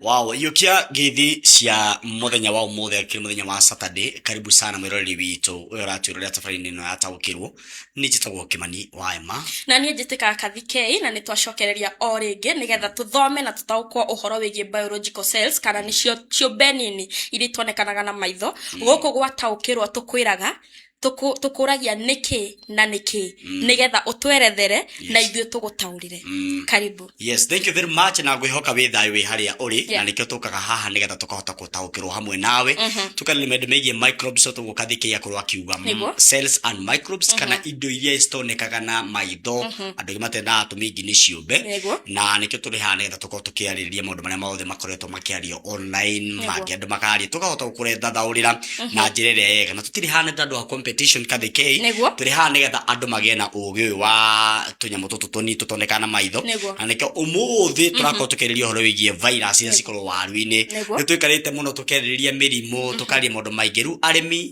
Wow, iyokia ngithi cia muthenya wa umuthi akiri muthenya wa Saturday karibu sana mwiroreri witũ uyu ũratwĩrorera tabarĩra-inĩ ĩno ya taũkĩrwo nĩ njĩtagwo kĩmani wa ema na niä njä tä kaga kathikei na nä twacokereria o rä ngä nä getha tå thome na tå taåkwo å horo wä giä biological cells kana nä cio ciå mbe nini iria itonekanaga na maitho gå kå gwataå kä rwo tå kwä raga tũkũ- tũkũragia nĩkĩ na nĩkĩ nĩgetha ũtwerethere na Yes. ithuĩ tũgũtaũrĩre Mm. karibu yes thank you very much na ngwihoka wĩ thayũ wĩ harĩa ũrĩ Yeah. na nĩkĩo tũkaga haha nĩgetha tũkahota gũtaũkĩrwo hamwe nawe tũkarĩrĩ maũndũ megiĩ microbes tũgũka thikĩria korwo akiuga mm, Nĩguo. cells and microbes kana indo iria citonekaga na maitho andũ aingĩ matendaga atũmĩ ingi nĩ ciũmbe Nĩguo. na nĩkĩo tũrĩ haha nĩgetha tũkorwo tũkĩarĩrĩria maũndũ marĩa mothe makoretwo gũkorwo makĩario online Nĩguo. mangĩ andũ makaria tũkahota gũkũrethathaũrĩra na njĩra ĩrĩa yega na tũtirĩ haha nĩ ta andũ a competition kathĩkei Nĩguo. tũrĩ haha nĩgetha andũ magĩe na ũgĩ ũyũ wa tũnyamũ tũtũ tũnini tũtonekaga na maitho Nĩguo. na nĩkĩo ũmũthĩ tũrakorwo tũkĩrĩria ũhoro wĩgiĩ virus iria cikorwo waru-inĩ Nĩguo. nĩ twĩkarĩte mũno tũkerĩrĩria mĩrimũ tũkaria maũndũ maingĩ rĩu arĩmi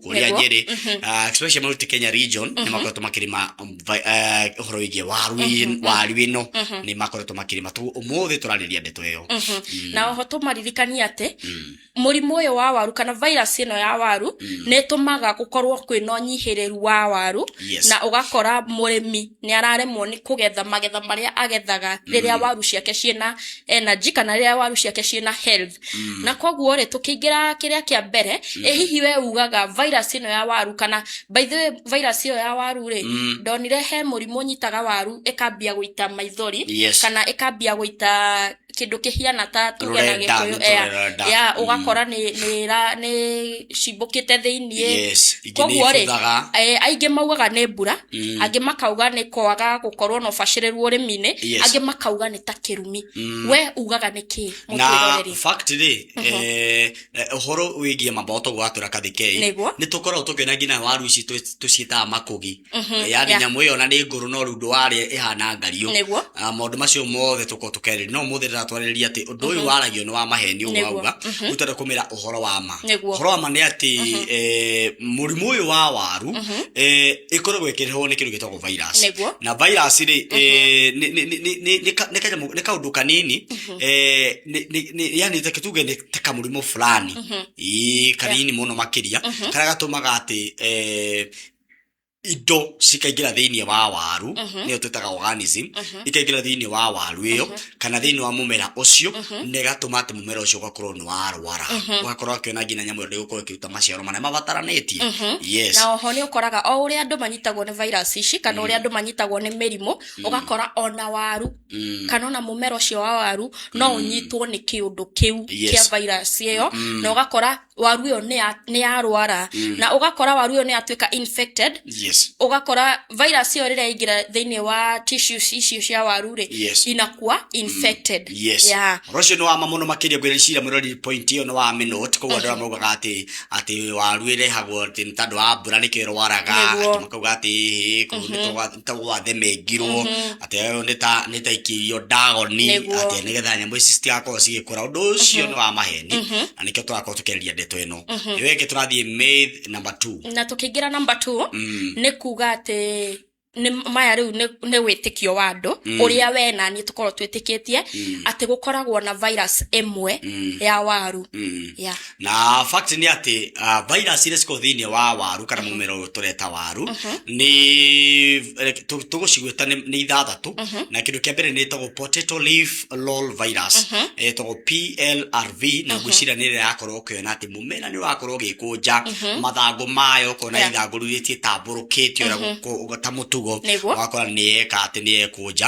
kũrĩa Nĩguo. nyĩrĩ ah, especially Mount Kenya region nĩ makoretwo makĩrĩma um, vi- eh, ũhoro wĩgiĩ waru ĩ- waru ĩno nĩ makoretwo makĩrĩma Tũ- ũmũthĩ tũrarĩria ndeto ĩyo Mm, na oho tũmaririkanie atĩ mm, mũrimũ ũyũ wa waru kana virus ĩno ya waru nĩ ĩtũmaga gũkorwo kwĩna ũnyihĩrĩru wa waru Yes. na ũgakora mũrĩmi nĩ araremwo nĩ kũgetha magetha marĩa agethaga rĩrĩa waru ciake ciĩna energy kana rĩrĩa waru ciake ciĩna health Mm. na koguo rĩ tũkĩingĩra kĩrĩa kĩa mbere mm. ĩ hihi we ugaga virus ĩno ya waru kana by the way virus ĩyo ya waru rĩ Mm. ndonire he mũrimũ nyitaga waru ĩkambia gũita maithori Yes. kana ĩkambia gũita kĩndũ kĩhiana ta tuge na Rũrenda, gĩkũyũ nĩ ea- tũrenda. ya Mm. ũgakora nĩ nĩ ra- nĩ cimbũkĩte thĩiniĩ Yes, ingĩ koguo rĩ nĩibuthaga. eh, aingĩ maugaga nĩ mbura Mm. angĩ makauga nĩ kwaga gũkorwo na ũbacĩrĩru ũrĩmi-inĩ Yes. angĩ makauga nĩ ta kĩrumi Mm. we ugaga nĩ kĩĩ na mũtwĩroreri fact rĩ eh, eh, ũhoro wĩgiĩ mamba ũtoguo watũra kathikei Nĩguo. nĩ tũkoragwo tũkĩona nginya waru ici twĩ- tũciĩtaga makũgi yani yeah. nyamũ ĩyo na nĩ ngũrũ no rundu warĩa ĩhana ngariũ Nĩguo. Ah, maũndũ macio mothe tũkorwo tũkerĩria no mũthĩ ndĩratwarĩrĩria atĩ ũndũ ũyũ waragio nĩ wa maheni ũguo Nĩguo. wauga ũtenda kũmĩra ũhoro wa ma Nĩguo. ũhoro wa ma nĩ atĩ eh, mũrimũ ũyũ wa waru eh, ĩkoragwo ĩkĩrehwo nĩ kĩndũ gĩtagwo virus Nĩguo. na virus rĩ eh, nĩ- nĩ- nĩ- nĩ- nĩ ka- nĩ kanyamũ- nĩ kaũndũ kanini eh, nĩ- nĩ- nĩ- yani take tuge nĩ ta kamũrimũ fulani Ĩĩ, kanini mũno makĩria karĩa gatũmaga atĩ eh, indo cikaingĩra thĩinĩ wa waru nĩyo twĩtaga organism ikaingĩra thĩinĩ wa waru ĩyo kana thĩinĩ wa mũmera ũcio na ĩgatũma atĩ mũmera ũcio ũgakorwo nĩ warwara ũgakorwo akĩona nginya nyamũ ĩyo ndĩgũkorwo ĩkĩruta maciaro marĩa mabataranĩtie yes na oho nä å koraga o å rä a andå manyitagwo nä virus ici kana å rä a andå manyitagwo nä mä rimå å gakora ona waru Mm. kana ona mũmera ũcio wa waru no Mm. ũnyitwo nĩ kĩũndũ kĩu Yes. kĩa virus ĩyo Mm. na ũgakora waru ĩyo nĩ ya- nĩ yarwara Mm. na ũgakora waru ĩyo nĩ yatuĩka infected Yes. ũgakora virus ĩyo rĩrĩa ingĩra thĩinĩ wa tissues icio cia waru rĩ Yes. inakua infected yes yeah. ũhoro ũcio nĩ wama mũno makĩria ngwĩra cira mũrori point ĩyo nĩ wa minute koguo andũ arĩa maugaga atĩ atĩ waru ĩrehagwo atĩ nĩ tondũ wa mbura nĩkĩo ĩrwaraga Nĩguo. atĩ makauga atĩ "Hĩ, kũu nĩ tũgwa- nĩ tũgwathemengirwo atĩ ũyũ nĩ ta nĩ ta ikĩirio ndagoni Nĩguo. atĩ nĩgetha nyamũ ici citigakorwo cigĩkũra ũndũ ũcio nĩ wa maheni na nĩkĩo tũrakorwo tũkĩarĩria ndeto ĩno ĩyo ĩngĩ tũrathiĩ myth number two na tũkĩingĩra namba two Mm. nĩ kuga atĩ nĩ maya rĩu nĩ- nĩ wĩtĩkio wa andũ ũrĩa we na niĩ tũkorwo twĩtĩkĩtie atĩ gũkoragwo na virus ĩmwe ya waru Mm. Yeah. na fact nĩ atĩ uh, virus iria cikoragwo thĩinĩ wa waru kana mũmera ũyũ tũreta waru nĩ eh, tũ- tũgũcigwĩta nĩ nĩ ithathatũ na kĩndũ kĩa mbere nĩ ĩtagwo potato leaf roll virus Eh, ĩtagwo plrv na ngwĩciria nĩ ĩrĩa yakorwo ũkĩona atĩ mũmera nĩ wakorwo ũgĩkũnja mathangũ mayo ũkona Yeah. ithangũ rĩu rĩtiĩtambũrũkĩtio ũrĩa gũkũ- ta mũtugo Nĩguo. wakora nĩ yeka atĩ nĩ yekũnja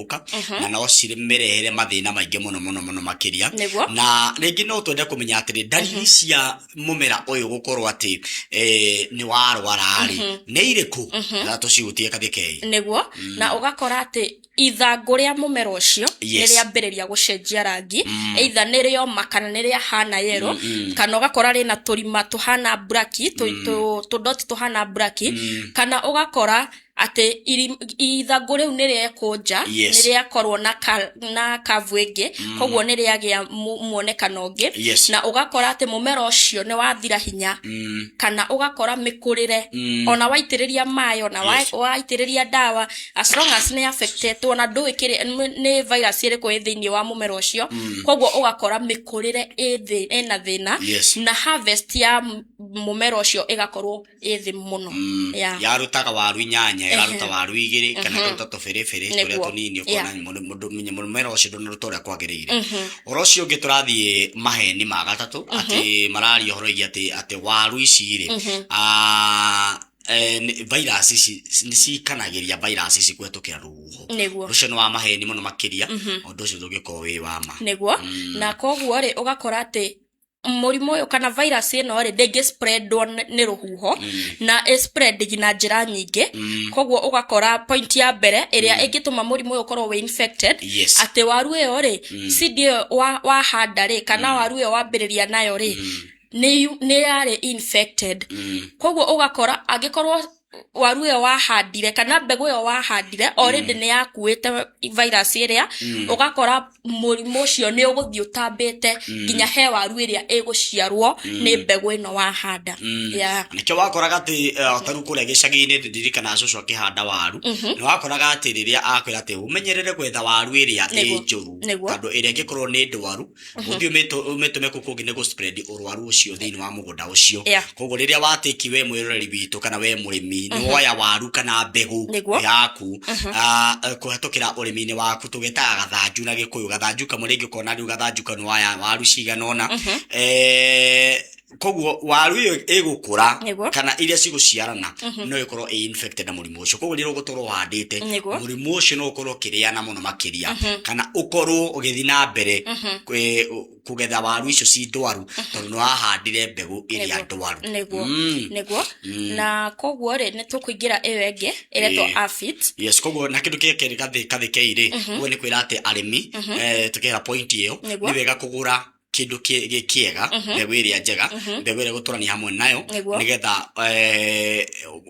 gũka na no cimerehere mathĩna maingĩ mũno mũno mũno makĩria Nĩguo. na rĩngĩ no twende kũmenya atĩrĩ ndariri cia mũmera ũyũ gũkorwo atĩ eh, nĩ warwara-rĩ nĩ irĩkũ na tũcihutie kathikei nĩguo na ũgakora atĩ ithangũ rĩa mũmera ũcio nĩ Yes. rĩambĩrĩria gũcenjia rangi either nĩ rĩoma kana nĩ rĩa hana yero kana ũgakora rĩna tũrima tũhana braki tũ- tũ- tũdoti tũhana braki kana ũgakora atĩ iri- ithangũ rĩu nĩ rĩekũnja Yes. nĩ rĩakorwo na ka- na kavu ĩngĩ koguo nĩ rĩagĩa mu- muonekano ũngĩ Yes. na ũgakora atĩ mũmera ũcio nĩ wathira hinya Mm. kana ũgakora mĩkũrĩre Mm. ona waitĩrĩria maĩ ona wa- Yes. waitĩrĩria ndawa as long as nĩ affectetwo na ndũĩ kĩrĩ nĩ- nĩ virus ĩrĩkũ ĩ thĩinĩ wa mũmera ũcio koguo ũgakora mĩkũrĩre ĩ thĩ- ĩna thĩna Yes. na harvest ya m- mũmera ũcio ĩgakorwo ĩ thĩ mũno Mm, Yeah. yarutaga waru inyanya ĩraruta waru igĩrĩ kana ĩkaruta tũbĩrĩbĩrĩ tũrĩa Nĩguo. tũnini Yeah. ũkona mũndũ- mũndũ- mũndũ- mũmera ũcio ndũnaruta ũrĩa kwagĩrĩire ũhoro ũcio ũngĩ tũrathiĩ maheni ma gatatũ atĩ mararia ũhoro igia atĩ atĩ waru ici rĩ ah, eh, nĩ- virus ici nĩ cikanagĩria virus ici kũhetũkĩra rũhuho nĩguo ũcio nĩ wa maheni mũno makĩria ũndũ ũcio ndũngĩkorwo wĩ wa ma nĩguo na koguo rĩ ũgakora atĩ mũrimũ ũyũ kana virus ĩno rĩ ndĩngĩ spreadwo nĩ nĩ rũhuho na ĩ spread na njĩra nyingĩ koguo ũgakora point ya mbere ĩrĩa ĩngĩtũma mũrimũ ũyũ ũkorwo wĩ infected Yes. atĩ waru ĩyo rĩ seed ĩyo wa- wahanda rĩ kana waru ĩyo wambĩrĩria nayo rĩ nĩ yu- nĩ yarĩ infected koguo ũgakora angĩkorwo waru ĩyo wahandire kana mbegũ ĩyo wahandire already nĩ yakuĩte virus ĩrĩa Mm. ũgakora mũrimũ ũcio nĩ ũgũthiĩ ũtambĩte nginya he waru ĩrĩa ĩgũciarwo nĩ mbegũ ĩno wahanda Mm. Yeah. nĩkĩo wakoraga atĩ eh, ta rĩu kũrĩa gĩcagi-inĩ ndirikana cũcũ akĩhanda waru nĩ wakoraga atĩ rĩrĩa akwĩra atĩ ũmenyerere gwetha waru ĩrĩa ĩ Nĩguo. njũru Nĩguo. tondũ ĩrĩa ĩngĩkorwo nĩ ndwaru ũngĩ ũmĩtũ- ũmĩtũme kũkũ ũngĩ nĩ gũspread ũrwaru ũcio thĩinĩ wa mũgũnda ũcio Yeah. koguo rĩrĩa watĩki we mwĩroreri witũ kana we mũrĩmi nĩ woya waru kana mbegũ Nĩguo. yaku ah, eh, kũhetũkĩra ũrĩmi-inĩ waku tũgetaga gathanju na gĩkũyũ gathanju kamwe rĩngĩ ũkona rĩu gathanju kau nĩ waya waru cigana ũna Eh, koguo waru ĩyo ĩgũkũra Nĩguo. kana iria cigũciarana no ĩkorwo ĩ infected na mũrimũ ũcio koguo rĩrĩa ũgũtũrwo ũhandĩte Nĩguo. mũrimũ ũcio no ũkorwo ũkĩrĩana mũno makĩria kana ũkorwo ũgĩthiĩ na mbere kwĩ- ũ- kũgetha waru icio ci ndwaru tondũ nĩ wahandire mbegũ ĩrĩa Nĩguo. ndwaru nĩguo Mm. nĩguo na koguo rĩ nĩ tũkũingĩra ĩyo ĩngĩ ĩretwo Ĩĩ. afit yes koguo na kindu kia keri gathi kathi keire koguo ni kwira ati arimi eh tukira point iyo Nĩguo. ni wega kugura kĩndũ kĩ- gĩ- kĩega Mhm. mbegũ ĩrĩa njega Mhm. mbegũ ĩrĩa gũtũrania hamwe nayo Nĩguo. nĩgetha eh,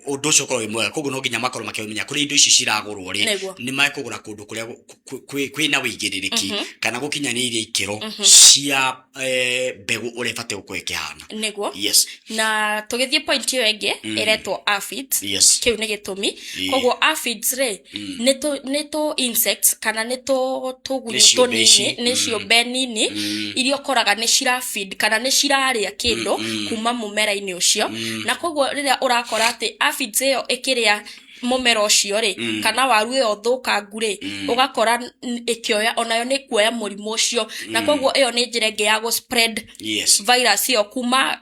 ũndũ ũcio ũkorwo wĩ mwega koguo no nginya makorwo makĩmenya kũrĩa indo ici ciragũrwo rĩ Nĩguo. nĩ makũgũra kũndũ kũrĩa gũ- kũ- kwĩ- kwĩna wĩigĩrĩrĩki Mhm. kana gũkinyanĩirie ikĩro Mhm. cia eh, mbegũ ũrĩa ĩbatiĩ gũkorwo ĩkĩhana nĩguo yes na tũgĩthiĩ point ĩyo ĩngĩ Mm. ĩretwo afit yes kĩu nĩ gĩtũmi Ĩĩ. koguo afit rĩ Mm. nĩ tũ nĩ tũ insects kana nĩ tũ tũgunyũ Nĩ ciũmbe tũnini ici. nĩ Mm. ciũmbe nini Mm. iria ũkoraga nĩ cirafeed kana nĩ cirarĩa kĩndũ Mm, mm. kuma mũmera-inĩ ũcio Mm. na koguo rĩrĩa ũrakora atĩ aphids ĩyo ĩkĩrĩa mũmera ũcio rĩ Mm. kana waru ĩyo thũkangu rĩ Mm. ũgakora n- ĩkĩoya onayo nĩ kuoya mũrimũ ũcio na koguo ĩyo nĩ njĩra ĩngĩ ya gũ spread yes virus ĩyo kuma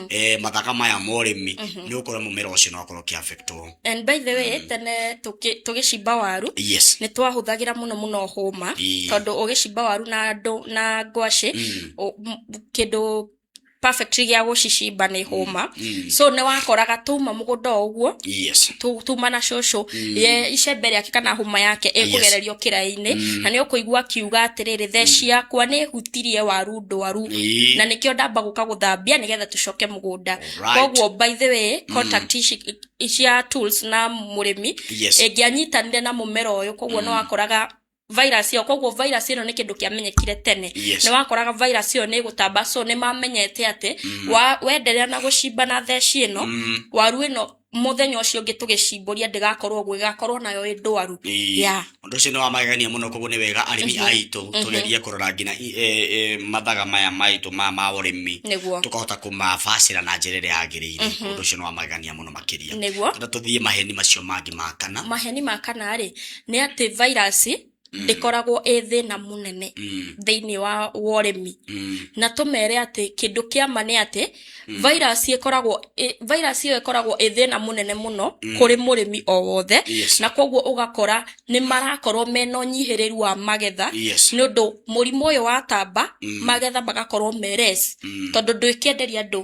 eh, mathaka maya ma ũrĩmi nĩ ũkora mũmera ũcio no ũkorwo ũkĩ affect wo and by the way tene tũkĩ- tũgĩcimba waru yes nä twahũthagĩra mũno mũno hũma Ii. tondũ ũgĩcimba waru na ndũ na ngwacĩ Mm. ũ- m- kĩndũ perfect gĩa gũcicimba nĩ hũma Mm. so nĩ wakoraga tũma mũgũnda o ũguo yes tu- tuma na cũcũ ye icembe rĩake kana hũma yake ĩkũgererio kĩraĩ-inĩ na nĩ ũkũigua akiuga atĩrĩrĩ theci yakwa nĩ ĩhutirie waru ndwaru Ĩĩ. na nĩkĩo ndamba gũka gũthambia nĩgetha tũcoke mũgũnda Alright. koguo by the way contact ici cia tools na mũrĩmi Yes. ĩngĩanyitanire na mũmera ũyũ koguo no wakoraga virus ĩyo koguo virus ĩno nĩ kĩndũ kĩamenyekire tene Yes. nĩ wakoraga virus ĩyo nĩ ĩgũtamba so nĩ mamenyete atĩ wa wenderea na gũcimba na theci ĩno waru ĩno mũthenya ũcio ũngĩ tũgĩcimbũria ndĩgakorwo ũguo ĩgakorwo nayo ĩ ndwaru Ĩĩ. Yeah. ũndũ ũcio nĩ wa magegania mũno koguo nĩ wega arĩmi Mhm. aitũ Mhm. tũgerie kũrora nginya i- e- e, mathaga maya maitũ ma ma ũrĩmi nĩguo tũkahota kũmabacĩra na njĩra ĩrĩa yagĩrĩire Mhm. ũndũ ũcio nĩ wa magegania mũno makĩria nĩguo na tũthiĩ maheni macio mangĩ ma kana maheni ma kana rĩ nĩ atĩ vairasi Mm. ndĩkoragwo ĩ thĩna mũnene Mm. thĩinĩ wa wa ũrĩmi Mm. na tũmere atĩ kĩndũ kĩa ma nĩ atĩ virus ĩkoragwo ĩ- virus ĩyo ĩkoragwo ĩ thĩna mũnene mũno kũrĩ mũrĩmi o wothe Yes. na koguo ũgakora nĩ marakorwo mena ũnyihĩrĩru wa magetha Yes. nĩ ũndũ mũrimũ ũyũ watamba magetha magakorwo meres tondũ ndwĩkenderia andũ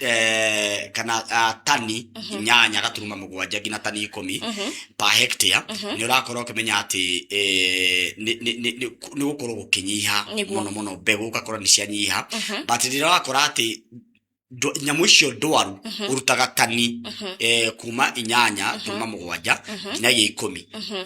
eh, kana ah, tani inyanya gaturuma mũgwanja nginya tani ikũmi pa hectare nĩ ũrakorwo ũkĩmenya atĩ eh, nĩ- nĩ- nĩ- nĩ- nĩ gũkorwo gũkĩnyiha Nĩguo. mũno mũno mbegũ ũgakora nĩ cianyiha but rĩrĩa wakora atĩ ndo- nyamũ icio ndwaru ũrutaga tani eh, kuma inyanya kuma mũgwanja nginyagia ikũmi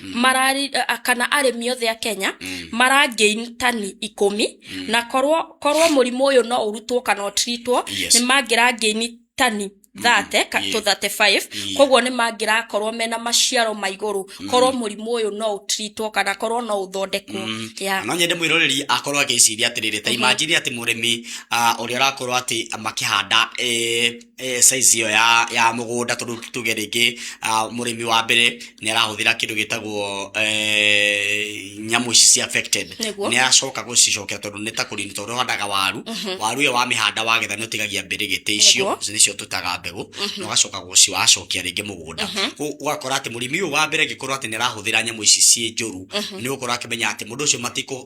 marari a- kana arĩmi othe a kenya Mm. marangain tani ikũmi na korwo korwo mũrimũ ũyũ no ũrutwo kana ũtiritwo Yes. nĩ mangĩrangaini tani thate Yeah. to 35 Yeah. koguo nĩ mangĩrakorwo mena maciaro ma igũrũ korwo mũrimũ ũyũ no ũtiritwo kana korwo no ũthondekwo Mm. Yeah. no nyende mwiroreri akorwo agĩciria atĩrĩrĩ ta imajiri atĩ mũrĩmi ah, ũrĩa ũrakorwo atĩ makĩhanda eh, size ĩyo ya mũgũnda tondũ tuge rĩngĩ mũrĩmi wa mbere nĩ arahũthĩra kĩndũ gĩtagwo nyamũ ici cia affected nĩ aracoka gũcicokera tondũ nĩ ta kũrima tondũ ũhandaga waru waru ĩyo wamĩhanda wagetha nĩ ũtigagia mbĩrĩgĩtĩ icio nĩcio tũtaga mbegũ na ũgacoka gũcicokia rĩngĩ mũgũnda ũgakora atĩ mũrĩmi ũyũ wa mbere angĩkorwo atĩ nĩ arahũthĩra nyamũ ici ciĩ njũru nĩ ũgũkorwo akĩmenya atĩ mũndũ ũcio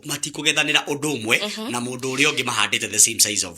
matikũgethanĩra ũndũ ũmwe na mũndũ ũrĩa ũngĩ mahandĩte the same size of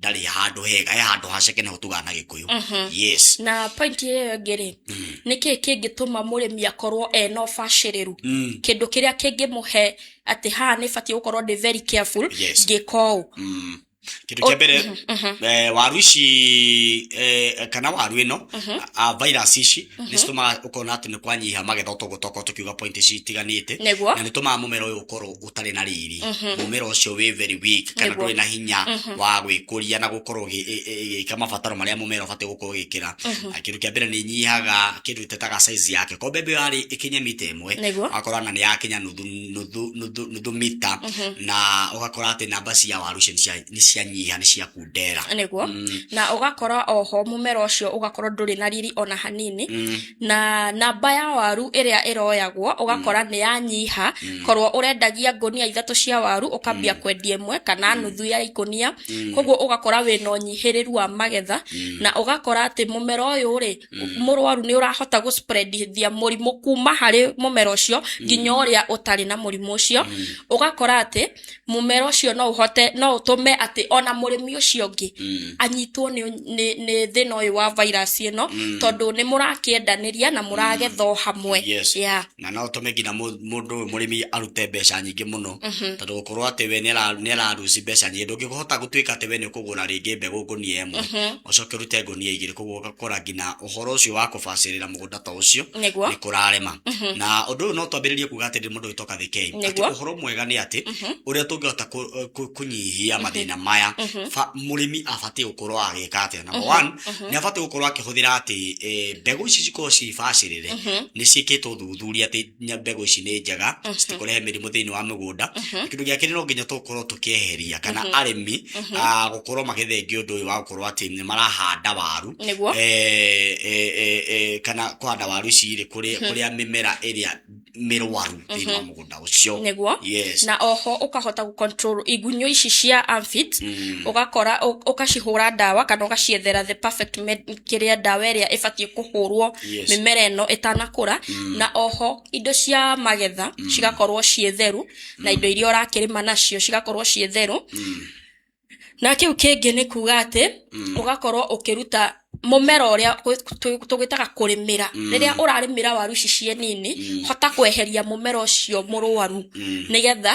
ndarĩ handå hega he handå haceke nä ho tå gana gä kå yå yes na pointi ĩyo ĩngĩ rĩ nĩ kĩĩ kĩngĩtũma mũrĩmi akorwo ena ũbacĩrĩru Mm. kĩndũ kĩrĩa kĩngĩmũhe atĩ haha nĩ batiĩ gũkorwo ndĩ very careful Yes. ngĩka ũũ Mm. kĩndũ kĩa mbere eh, waru ici eh, kana waru ĩno a- a virus ici nĩ citũmaga ũkona atĩ nĩ kwanyiha magetha ũtoguo tokorwo tũkiuga point ici itiganĩte Nĩguo. na nĩ tũmaga mũmera ũyũ ũkorwo ũtarĩ na riri mũmera ũcio wĩ very weak kana Nĩguo. ndũrĩ na hinya wa gwĩkũria na gũkorwo ũgĩ- ĩ- ĩ- ĩgĩka mabataro marĩa mũmera ũbatiĩ gũkorwo ũgĩkĩra Na kĩndũ kĩa mbere nĩ inyihaga kĩndũ ĩtetaga size yake ko mbembe ĩyo yarĩ ĩkinye mita ĩmwe Nĩguo. ũgakora na nĩ yakinya nuthu nuthu nuthu nuthu mita na ũgakora atĩ namba cia waru icio nĩ cia- nĩ cianyiha nĩ ciakundera nĩguo Mm. na ũgakora oho mũmera ũcio ũgakorwo ndũrĩ na riri ona hanini Mm. na namba ya waru ĩrĩa ĩroyagwo ũgakora nĩ yanyiha korwo ũrendagia ngũnia ithatũ cia waru ũkambia kwendia ĩmwe kana nuthu ya ikũnia koguo ũgakora wĩna ũnyihĩrĩru wa magetha na ũgakora atĩ mũmera ũyũ rĩ mũrwaru nĩ ũrahota gũ spread ithia mũrimũ kuma harĩ mũmera ũcio nginya ũrĩa ũtarĩ na mũrimũ ũcio ũgakora atĩ mũmera ũcio no ũhote no ũtũme atĩ ona mũrĩmi ũcio ũngĩ Mm. anyitwo nĩ, nĩ, nĩ thĩna ũyũ wa virus ĩno Mm. tondũ nĩ mũrakĩendanĩria na mũragetha o hamwe Yes. yeah. na no ũtũme nginya mũ- mũndũ ũyũ mũrĩmi arute mbeca nyingĩ mũno Mhm. tondũ gũkorwo atĩ we nĩ araruci mbeca nyingĩ ndũngĩhota gũtuĩka atĩ we nĩ ũkũgũra rĩngĩ mbegũ ngũnia ĩmwe Mhm. ũcoke ũrute ngũnia igĩrĩ koguo ũgakora nginya ũhoro ũcio wa kũbacĩrĩra mũgũnda ta ũcio Nĩguo. nĩ kũrarema Mhm. na ũndũ ũyũ no twambĩrĩrie kuga atĩ mũndũ wĩtoka thĩ kei atĩ Nĩguo. ũhoro mwega nĩ atĩ Mhm. ũrĩa tũngĩhota kũ- kũ- kũnyihia mathĩna maya Mhm. ba- mũrĩmi abatiĩ gũkorwo agĩka atĩa number one Mhm. nĩ abatiĩ gũkorwo akĩhũthĩra atĩ eh, mbegũ ici cikorwo cibacĩrĩre Mhm. nĩ ciĩkĩtwo ũthuthuria atĩ nya- mbegũ ici nĩ njega Mhm. citikũrehe mĩrimũ thĩinĩ wa mĩgũnda Mhm. Na kĩndũ gĩa kerĩ no nginya tũkorwo tũkĩeheria kana Mhm. arĩmi Mhm. ah, gũkorwo magĩthengia ũndũ ũyũ wa gũkorwo atĩ nĩ marahanda waru nĩguo eh, eh, eh, eh, kana kũhanda waru ici rĩ kũrĩa kũrĩa mĩmera ĩrĩa mĩrwaru thĩinĩ wa mũgũnda ũcio nĩguo yes na oho ũkahota gũcontrol igunyũ ici cia amphit Mm. ũgakora ũ- ũgacihũra ndawa kana ũgaciethera the perfect med- kĩrĩa ndawa ĩrĩa ĩbatiĩ kũhũrwo Yes. mĩmera ĩno ĩtanakũra na oho indo cia magetha cigakorwo ciĩ theru na indo iria ũrakĩrĩma nacio cigakorwo ciĩ theru na kĩu kĩngĩ nĩ kuga atĩ Mm. ũgakorwo ũkĩruta mũmera ũrĩa gwĩ- tũ- tũgwĩtaga kũrĩmĩra Mm. rĩrĩa ũrarĩmĩra waru ici ciĩ nini Mm. hota kweheria mũmera ũcio mũrwaru Mm. nĩgetha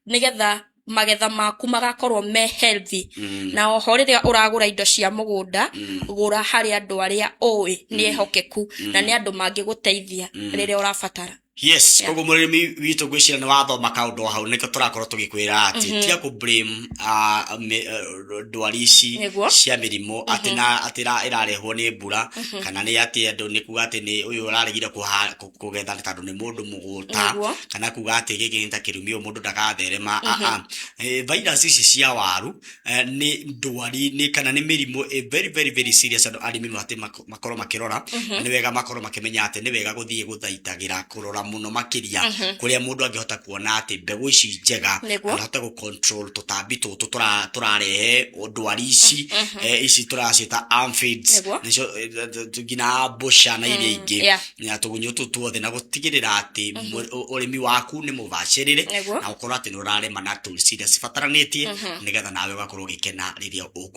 nĩgetha magetha maku magakorwo me healthy Mm. na oho rĩrĩa ũragũra indo cia mũgũnda Mm. gũra harĩ andũ arĩa ũĩ nĩ ehokeku na nĩ andũ mangĩgũteithia Mm. rĩrĩa ũrabatara yes Yeah. koguo mũrĩmi witũ ngwĩciria nĩ wathoma kaũndũ hau nĩkĩo tũrakorwo tũgĩkwĩra atĩ Mhm. tiga kũ blame ah, mĩ- ah, ndwari ici Nĩguo. cia mĩrimũ atĩ na atĩ ĩra- ĩrarehwo nĩ mbura Mhm. kana nĩ atĩ andũ nĩ kuga atĩ nĩ ũyũ ũraregire kũha- kũ- kũgetha nĩ tondũ nĩ mũndũ mũgũta Nĩguo. kana kuga atĩ gĩkĩ nĩ ta kĩrumi ũyũ mũndũ ndagatherema Mhm. aa Eh, virus ici cia waru eh, nĩ ndwari nĩ kana nĩ mĩrimũ eh, very very very serious andũ arĩmi mabatĩ makorwo makirora Mhm. ni wega makorwo makimenya ati ni wega guthie guthaitagira kurora muno makiria Mhm. kuria mundu angihota kuona ati mbegu ici njega Nĩguo. anahota gu control tutambi tutu tura- turarehe ndwari ici Mhm. eh, ici turacita amphibs Nĩguo. nicio eh, th- th- th- nginya mbũca na iria ingĩ yeah. na tũgunyũ tũ tuothe na gũtigĩrĩra atĩ mũ- ũ- ũrĩmi waku nĩ mũbacĩrĩre Nĩguo. na ũkorwo atĩ nĩ ũrarĩma na tools iria cibataranĩtie Mhm. nĩgetha nawe ũgakorwo ũgĩkena rĩrĩa ũkũ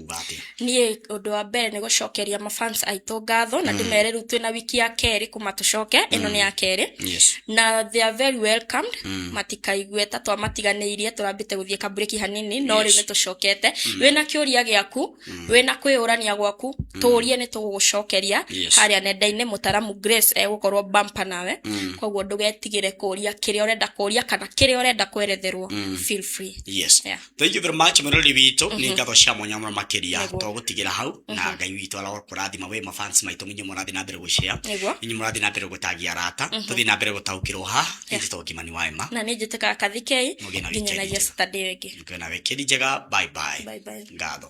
kuuga atĩa? Niĩ ũndũ wa mbere nĩ gũcokeria ma fans aitũ ngatho na ndĩmere rĩu twĩna wiki ya kerĩ kuma tũcoke ĩno nĩ ya kerĩ Yes. na they are very welcomed matikaigue ta twamatiganĩirie tũrambĩte gũthiĩ kamburĩki hanini no rĩu Yes. nĩ tũcokete wĩna kĩũria gĩaku wĩna kwĩyũrania gwaku tũũrie nĩ tũgũgũcokeria Yes. harĩa nenda-inĩ mũtaramu grace egũkorwo bampa nawe koguo ndũgetigĩre kũũria kĩrĩa ũrenda kũũria kana kĩrĩa ũrenda kweretherwo feel free Yes. Yeah. thank you very much mũrori witũ nĩ ngatho cia mwanya mũno makĩria Nĩguo. togũtigĩra hau na ngai witũ arokũrathima we mafans maitũ inyuĩ mũrathiĩ na mbere gũcea Nĩguo. inyuĩ mũrathiĩ na mbere gũtagia arata tũthiĩ na mbere gũtaũkĩrwo ha nĩ tũtũ ngimani wa ema na nä njä tä kaga kathikei Mũgĩe na nginyanagia weekend njega. citandä ä ngä ngiona wekĩri njega bye bye Bye bye. ngatho